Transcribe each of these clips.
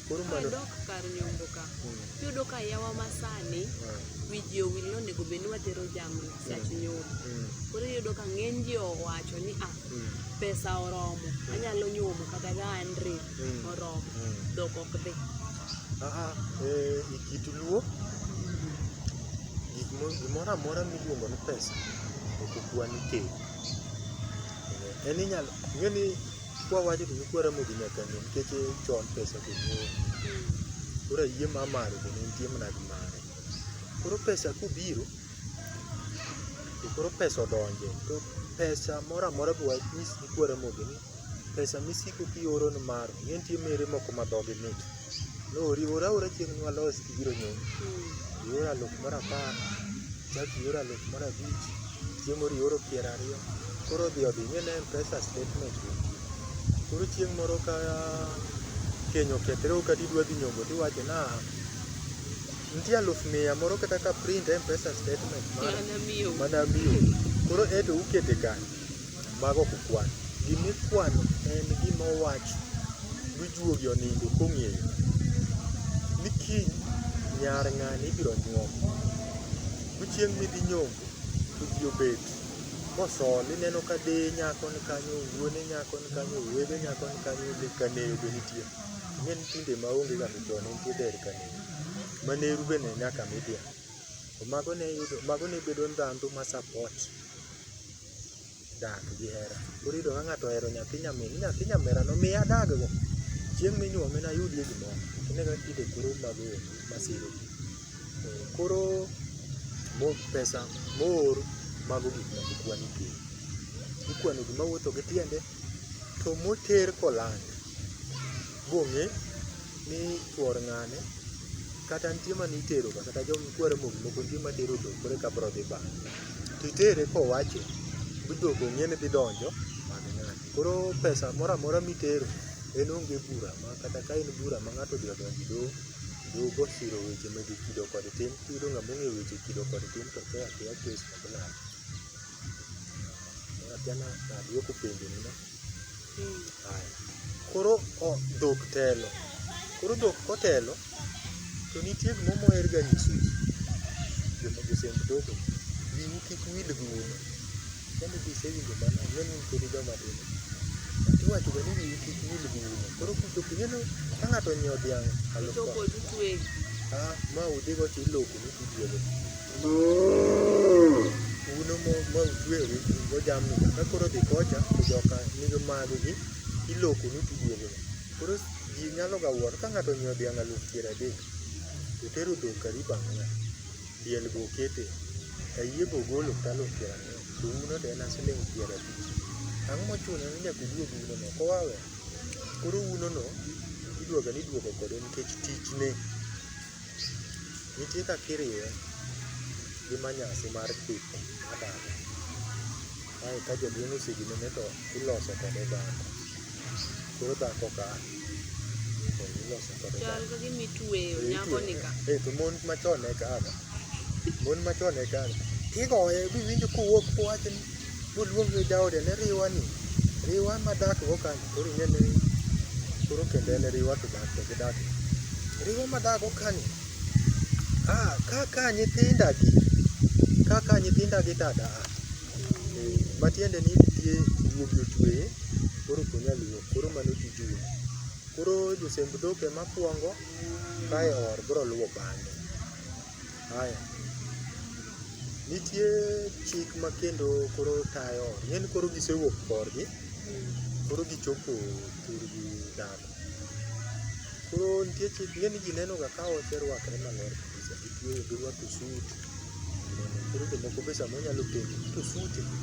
Koro mano dok kar nyombo ka. Iyudo ka yawa masani wiji owil ni onego bed ni watero jamni sach nyombo. Koro iyudo ka ng'eny ji owacho ni ah, pesa oromo, anyalo nyombo kata ka an re oromo, dhok ok dhi. Aa, e, e kit luo gik mo- gimoro amora miluongo ni pesa ok okwan keny En inyalo ing'e ni kwa wacho to nyikwa Ramogi nyaka ng'e nikech chon pesa to ng'eyo. Koro ayie ma mare to ne nitie mana gi mare. Koro pesa kobiro to koro pesa odonje to pesa moro amora be wanyis nyikwa Ramogi ni pesa misiko kioro ni maro ing'e nitie mere moko ma dhogi mit. Noriwore aora chieng' nwalos gibiro nyombo. Hmm. Ioro aluf mar apar, chak ioro aluf mar abich, chiemo rioro piero ariyo. Koro odhi odhi ing'e ne pesa statement go. Koro chieng' moro ka keny okethre ok ati dwa dhi nyombo tiwacho na nitie aluf mia moro kata ka print mpesa statement mana miyo koro eto ukete kanye Mago ok okwano. Gima ikwano en gima owach gi juogi onindo kong'eyo ni kiny nyar ng'ane ibiro nyuom. Bi chieng' midhi nyombo to ji obet kosol ineno ka deye nyako ni kanyo, wuone nyako ni kanyo, owete nyako ni kanyo, lek kaneyo be nitie. Ing'e ni tinde ma onge ga to chon ne nitie der kaneyo. Ma neru be ne nyaka mi dhiang'. To mago ne iyudo, mago ne bedo ndhandhu ma support dak gi hera. Koro iyudo ka ng'ato ohero nyathi nyamin, ni nyathi nyamera no miya adag go. Chieng' minyuome nayudie gimoro. Ine kaka kite koro mago eki masiro ji. Eh, Koro mo pesa moor mago gik moko kwani kiny. Ikwano gima wuotho gi tiende. To moter koland bong'e ni chuor ng'ane kata nitie mane itero ga kata joma kwero moko moko nitie matero dhok koro eka bro dhi bang' to itere kowacho ni dhok ong'e ni dhi donjo mag ng'ane koro pesa moro amora mitero en onge bura ma kata ka en bura ma ng'ato odhi odonjo e doho doho go osiro weche mege kido kod tim tiyudo ng'ama ong'eyo weche kido kod tim to tho akeya kes ma bilal Jana nadwoko penjo ni no. Haya. Koro o, dhok telo. Koro dhok kotelo to nitie gima moher ga nyiso ji. Joma josemb dhok wiu kik wil gi uno. Kendo gisewinjo mano, ang'e ni pod joma tin. Iwacho ga ni wiu kik wil gi uno. Koro kuchopo ineno ka ng'ato onyiewo dhiang' aluf Chopo dutwe. Ah, ma udhigo to iloko ni tiduogo. Uno ma utweyogi go jamni ka koro dhi kocha to joka nigi maggi ilokonu to iduogono. Koro ji nyaloga wuoro ka ng'ato onyiewo dhiang' aluf piero adek to otero dhok karibu ang'wen, diel be okete, ayie be ogolo kata aluf piero ang'wen to uno to en siling' piero abich. Ang'o mochuno ni nyaka uduog unono ok oa wee. Koro unono iduoga ni iduogo kode nikech tichne. Nitie kaka iriwe gi manyasi mar tipo mar dala. Kae ka jaduong' oseginene to iloso kode dhako. Koro dhako ka to iloso kode dhako. Chal ka gima itueyo nyako ni ka. Eh, to mon machon ne kaka. Mon machon ne kaka. Kigoye biwinjo kowuok kowacho ni Boluong ni jaode ni riwa ni, riwa ma dak go ka ni koro ing'e ni koro kendo en riwa to dak to gidak. Riwa ma dak go ka ni, ah kaka nyithinda gi, kaka nyithinda gi to ada a. Eh, Matiende ni nitie guogi otweye, koro ok onyal wuok, koro mano tij wuon. Koro josemb dhok ema kwongo kae or biro luwo bang'e. Haya. Nitie chik ma kendo koro tayo, ing'e ni koro gisewuok korgi, koro gichopo thurgi dhano. Koro nitie chik, ing'e ni ji nenoga ka oserwakre maler kabisa, gitweyo girwako suit. Koro jomoko be samoro nyalo penjo ni to suit ni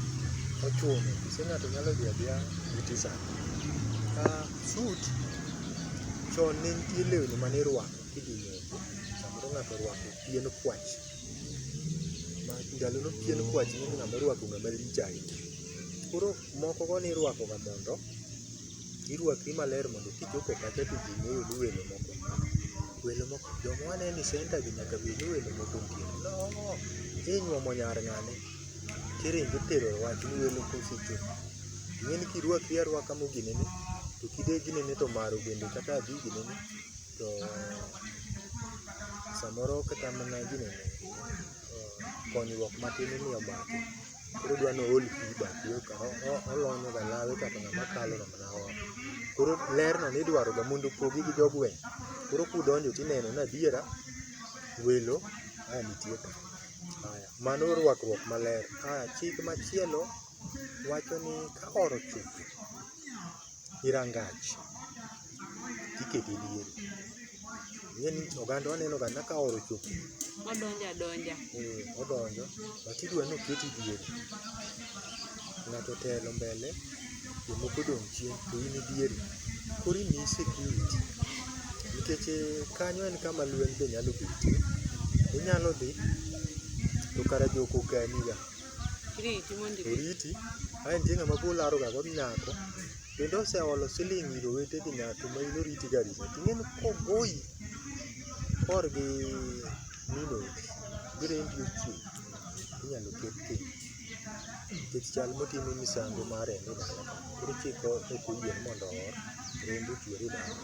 ochuno kose ng'ato nyalo dhi adhiya gi t-shirt? Ah, suit chon ne nitie lewni mane irwako kidhi moko samoro ng'ato orwako pien kwach ma ndalono pien kwach ni ng'ama orwako ng'ama lich ahinya koro moko go ni irwako ga mondo irwakri maler mondo kichopo kacha to ji ng'eyo ni welo moko welo moko joma waneno ni senta gi nyaka bed ni welo moko nitie no inyuomo nyar ng'ane kiringo tero wach ni welo kosechopo ing'e ni kirwakri arwaka moginene to kidegi nene to maro bende kata adigi nene to samoro kata mana gino konyruok matin ni omaki koro odwa ni ool pi e bathi eka olonyo ga lawe kaka ng'ama kalo ng'ama lawa. Koro ler no nidwaro ga mondo opogi gi jogweng'. Koro kudonjo tineno ni adiera welo a nitie ka. Aya, mano rwakruok maler. Aya, chik machielo wacho ni ka oro chuth. gi rangach tikete diere. Ing'e ni oganda waneno ga ka oro ochopo Odonjo adonja. eh, odonjo but idwa ni oketi diere. Ng'ato otelo mbele jomoko odong' chien to in idiere. Koro imiyi security nikech eh, kanyo en kama lweny be nyalo betie. Inyalo dhi to kara joko okani ga. Riti mondo ibi. Oriti, ae nitie ng'ama biro laroga kod nyako, bende oseolo siling' ir owete gi nyako ma in oriti ga riti. Ting'e ni kogoyi kor gi min odi, birembi ochung', inyalo ket piny. Nikech chal motime misango mar remo e dala ka, koro chik ok oyie ni mondo oor, rembo ochwer e dala.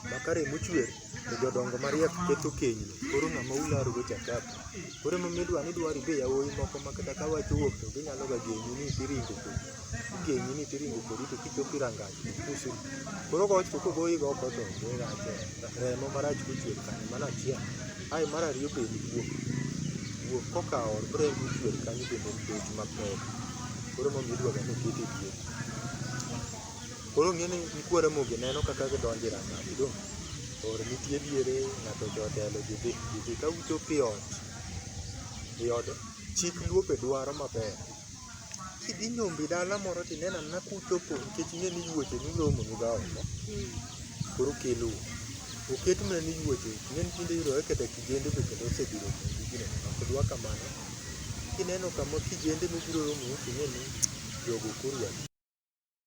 Ma ka remo ochwer, To jodongo mariek keto kenyni, koro ng'ama ularogo cha kapi. Koro emomiyo idwa ni idwari be yawuoyi moko ma kata ka wach owuok to ginyalo ga genyi ni tiringo kodi. Igenyi ni tiringo kodi to kichopo e rangach to pusi. Koro wach to kogoyi go oko to onge rach e, remo marach kochwer kanyo mano achiel. Ae mar ariyo be en guok, guok kokawo rembi ochwer kanyo bende en pek mapek. Koro emomiyo idwaga ni okete e pien. Koro ng'e ni nyikwa Ramogi neno kaka gidonjo e ranga gidong' or nitie diere ng'ato ocho otelo gidhi gidhi ka uchopo e ot e od chik luope dwaro maber kidhi nyombi dala moro tineno anena kuchopo nikech ing'e ni yuoche nuromo nuga oko koro kelu oket mana ni yuoche ing'e ni tinde yudore kata kijende be kendo osebiro mugi gino ok dwa kamano kineno kama kijende mobiro romo ting'e ni jogo koro adi